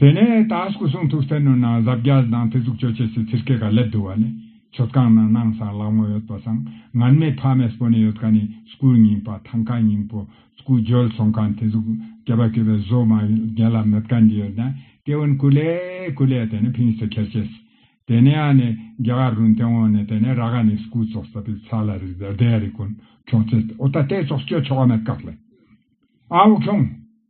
དེ་ནས་ད་སྐུ་གསུང་ཐུགས་གསེར་ནོར་ནང་གཟབ་རྒྱ་དང་ཐེ་ཙུག་སྤྱོད་ཆས་སུ་ཚིར་སྐད་ག་ལེར་བསྡུ་བ་ནི། མཆོད་ཁང་ནང་སྣང་སང་ལག་མོ་ཡོད་པ་སང་ངར་མེད་ཕ་མས་སྤོ་ནས་ཡོད་ཁ་ནི་སྐུའི་སྙིང་པ་ཐང་ཁ་སྙིང་པོ་སྐུ་བརྗོད་ཚོང་ཁང་ཐེ་ཙུག་སྐྱེ་བ་སྐྱོ་བའི་བཟོ་མ་རྒན་ལ་མེད་ཁ་འདི་ཡོད་ནས་སྐྱེ་བོ་ནི་ཀུ་ལེ་ཀུ་ལེ་དེ་ནི་ཕིང་སེ་ཁེར་ཆེ་སི། དེ་ནས་ཨ་ནི་རྒྱ་གར་རུ་མཐེ་བོང་ནི་དེ་ནས་ར་ག་ནི་སྐུ་བཙོག་ས་པི་ཚ་ལ་རི་ཟར་དེ་ཡ་རི་ཀོན་ཁྱོང་ཚེ་ཨོ་ད་དེ་བཙོག་སྐྱོད་ཆོག་ག་མེད་ཀ་ལེ་ཨའོ་ཁྱོང།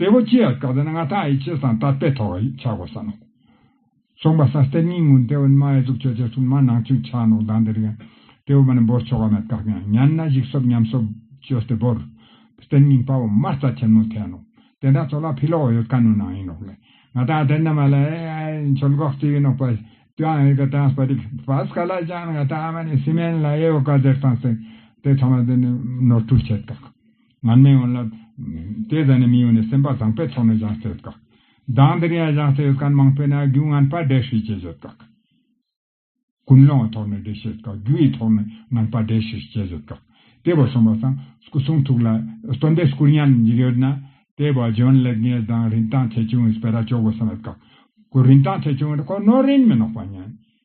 དེ་བོ་ཅི་ཡ་སྐབས་དེ་ན་ང་ཐག་ཡི་ཆེ་སང་དར་སྤེལ་ཐོག་ཡིག་ཆ་གོ་ས་ནོག། ཚོང་པ་སང་སྟེར་ཉིན་ངུ་དེ་བོ་ནི་མ་ཡ་ཟུག་ཆོས་ཆ་ཆུང་མ་ནང་ཆུང་ཆག་ནོག་དང་དེ་རིག་ཡང། དེ་བོ་མ་ནི་འབོར་ཆོག་ག་མེད་བཀག་ཡང་ཉན་ན་ཞིག་སོབ་ཉམས་སོབ། ཆོས་སྟེར་བོར། སྟེར་ཉིན་དཔའ་བོ་མར་རྩ་ཆེན་མོ་འཐེན་ནོག། དེ་འདྲ་ཚོ་ལ་ཕི་ལོག་ཡོད་ཀ་ནོ་ནང་ཡིན་ནོག་ལེ། ང་ཐག་དེ་འདྲ་མ་ལ་ཨེ་ཨ་ཨེ་མཆོལ་གོག་ཅིག་ཡིན་ནོག་པ། ཀྱང་ཨེ་ཀ་ཏྲང་སྤ་ཏིག་བྷས་ཀ་ལ་ཀྱང་ང་ཐག་ཨ་མ་ནི་སི་མེན་ལ་ཡེ་བོ་ཀ་ཟེར་སང་སེང། དེ་ཚང་མ་དེ་ནི་ནོར་འཁྲུལ་བྱེད་བཀག། ང་མི་ཡོང་ལབ། དེ་ཟ་ནས་མི་ཡོང་ནས་སེམས་པ་བཟང་པའི་ཐོག་ནས་བཞག་ཚེ་ཡོད་གག། སྡང་འདི་རིང་ཡང་བཞག་ཚེ་ཡོད་གག་མང་པོས་ན་རྒྱུ་ངན་པ་འབྲས་ཤིག་བྱས་ཡོད་གག། ཀུན་སློང་གི་ཐོག་ནས་འབྲས་ཤིག་ཡོད་གག་རྒྱུ་ཡི་ཐོག་ནས་ངན་པ་འབྲས་ཤིག་བྱས་ཡོད་གག། དེ་བས་གསུངས་པ་བཟང་སྐུ་གསུང་ཐུགས་ལ་སྟོན་པའི་སྐུར་ཉར་ནས་འཇུག་ཡོད་ན། དེ་བས་འཇོན་ལེགས་ངེས་བཟང་རིན་ཐང་ཆེ་ཆུང་ཡོད་པས་ར་ཅོག་གོ་བསམ་ཡོད་གག། ཁོ་རིན་ཐང་ཆེ་ཆུང་ཡོད་ན་ཁོ་ནོར་རིན་མི་ནོག་པ་ཉན།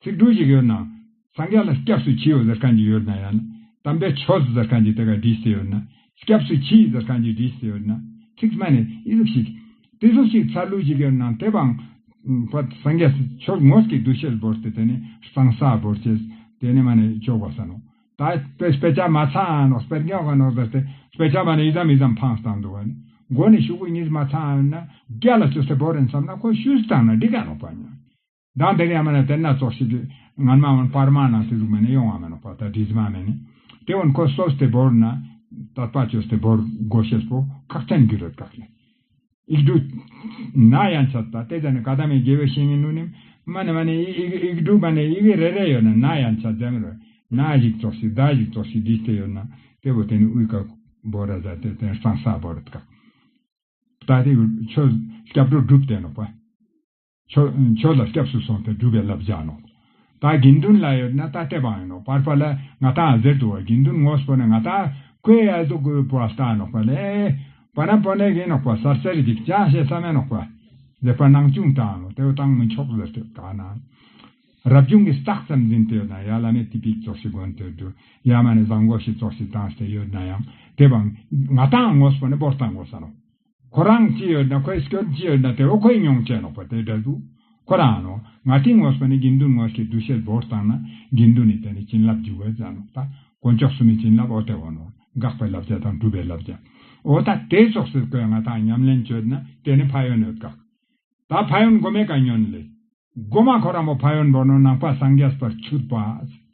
ཚིག་འབྲུ་ཞིག་ཡོད་ན། སངས་རྒྱས་ལ་སྐྱབས་སུ་མཆི་ཡོད་ཟེར་མཁན་ཞིག་ཡོད་ན་ཡང། དམ་པའི་ཆོས་ཟེར་མཁན་ཞིག་དེ་གར་བྲིས་ཟེར་ཡོད་ན། སྐྱབས་སུ་མཆི་ཟེར་མཁན་ཞིག་བྲིས་ཟེར་ཡོད་ན། ཚིག་སྨད་ནས་ཨི་ཟིག་ཤིག། ཏི་ཟིག་ཤིག་ཚར་ལུགས་ཤིག་ཡོད་ན་དེ་བའང། སངས་རྒྱས་ཆོས་ངོས་ཀྱི་གདུལ་བྱའི་འབོར་དེ་དེ་ནི་གཙང་ས་འབོར་ཆེ། དེ་ནི་མ་ནི་ལྕོགས་པ་ཟེར་ནོ། ད་དཔེ་དཔེ་ཆ་མ་ཚང་ནོ་དཔེར་འགྱངས་ག་ནོ་ཟེར་ཏེ་དཔེ་ཆ་མ་ནི་ཡི་དམ་ཡི་དམ་འཕང་བཏང་འདུག་བ་ནི། མགོ་ནི་ཤུག་གུ་གཉིས་མ་ཚང་ན། རྒྱ་ལ་ཆུ་སེར་བོར་རན་བསམ་ན་ཁོ་ཤུལ་བཏང་ན་འགྲིག་ག་ནོ་བ་ཉོན། གདངས་དེ་ལས་མ་ལ་དེར་སྣ་ཚོགས་ཤིག་གིས། ངར་མ་འོན་པར་མར་ནང་ཚེ་གཟུགས་མེད་ནས་གཡོ་བ་མེད་ནོ་པ་ད་དྲིས་མ་མེད་ནི། དེ་འོན་ཁོ་སོ་སྟེ་བོར་ན། དད་པ་ཆོས་སྟེ་བོར་དགོས་ཤེས་པོ་ཁག་ཅན་རྒྱུ་རོལ་གྲགས་ལས། ཨིག་འབྲུ། ན་ཡང་ཆད་ད་དེ་ཙམ་ནི་ག་ད་མའི་དགེ་བའི་བཤེས་གཉེན་ནུ་ནིམ། མ་ནི་མ་ནི་ཨིག་ཨིག་འབྲུ་མ་ནི་ཨིག་ཨིག་རེ་རེ་ཡོད་ན་ན་ཡང་ཆད་འཛེམ་རོལ། ན་ཞིག་ཙོག་ཞིག་ད་ཞིག་ཙོག་ཞིག་དྲིས་དེ་ཡོད་ན། དེ་བོ་དེ་ནི་དབུས་ཀ། བོ་ར་ཟད་དེ་དེར་སང་ས་བོར་དཀའ། ད་དེ་ཆོས། སྐྱབས་འགྲོ་སྒྲུབ་བསྟན་ནོ་པ། མཆོག་ལ་སྐྱབས་སུ་སོང་སྟེ་སྒྲུབ་པའི་བསླབ་བྱ་ནོ། ད་དགེ་འདུན་ལ་ཡོད་ན་ད་ལྟས་པའང་ཡིན་ནོ། བར་པ་ལ་ང་ད་གཟེར་དུ་བ་དགེ་འདུན་ངོ་སྤོ་ན་ང་ད་ཀོས་ཡལ་དུ་གོས་སྤོ་བ་ལྟ་ནོག་པ་ལས། བ་ན་པོ་ནས་གིན་ནོག་པ་སར་སེར་གྱིས་ཀྱང་བཤད་ས་མེད་ནོག་པ། ལེགས་པར་སྣང་ཅུང་བཏང་ནོ་དེ་བས་བཏང་མི་ཆོག་གཟེར་དུ་ག་ན། རབ་བྱུང་གི་རྟགས་ཙམ་འཛིན་དུ་ཡོད་ན་ཡང་བླ་མས་དེ་ཕིགས་ཙོག་ཤིག་དགོན་དུ་བསྡུ་ཡང་མ་ནས་བཟང་གོ་ཤིག་ཙོག་ཤིག་བཏང་སྟེ་ཡོད་ན་ཡང་དེ་བ། ང་དའང་ངོ་སྤོ་ནས་བོར་བཏང་དགོས་ས་ནོ། ཁོ་རང་ཅི་ཡོད་དང་ཁོའི་སྐྱོན་ཅི་ཡོད་དང་དེ་བས་ཁོའི་མྱོང་བྱེད་ལོག་པ་དེ་འདྲ་འདུག་ཁོ་རང་ནོ། ང་སྤྲིན་ངོ་སོགས་ནི་དགེ་འདུན་ངོ་ཞེས་བསྡུ་བྱའི་བོར་བཏང་ན་དགེ་འདུན་ནི་དེ་ནི་བྱིན་རླབས་འཇུག་བའི་རྫ་ནོ། དགོན་ཕྱོགས་སུ་ནི་བྱིན་རླབས་ཨོ་ཏེ་བོ་ནོ། དགག་པའི་བསླབ་བྱ་དང་སྒྲུབ་པའི་བསླབ་བྱ། ཨོ་ད་དེ་སོགས་ཟེར་དགོས་ང་དང་ཉམས་ལེན་བྱོས་ན་དེ་ནི་ཕ་ཡོན་འོད་དགག། ད་ཕ་ཡོན་སྒོ་མེད་ཀ་ཉོན་ལེ། སྒོ་མ་ཁོ་རང་མོ་ཕ་ཡོན་བོ་ནོ་ནང་པ་སངས་རྒྱས་པར་ཆུད་པ།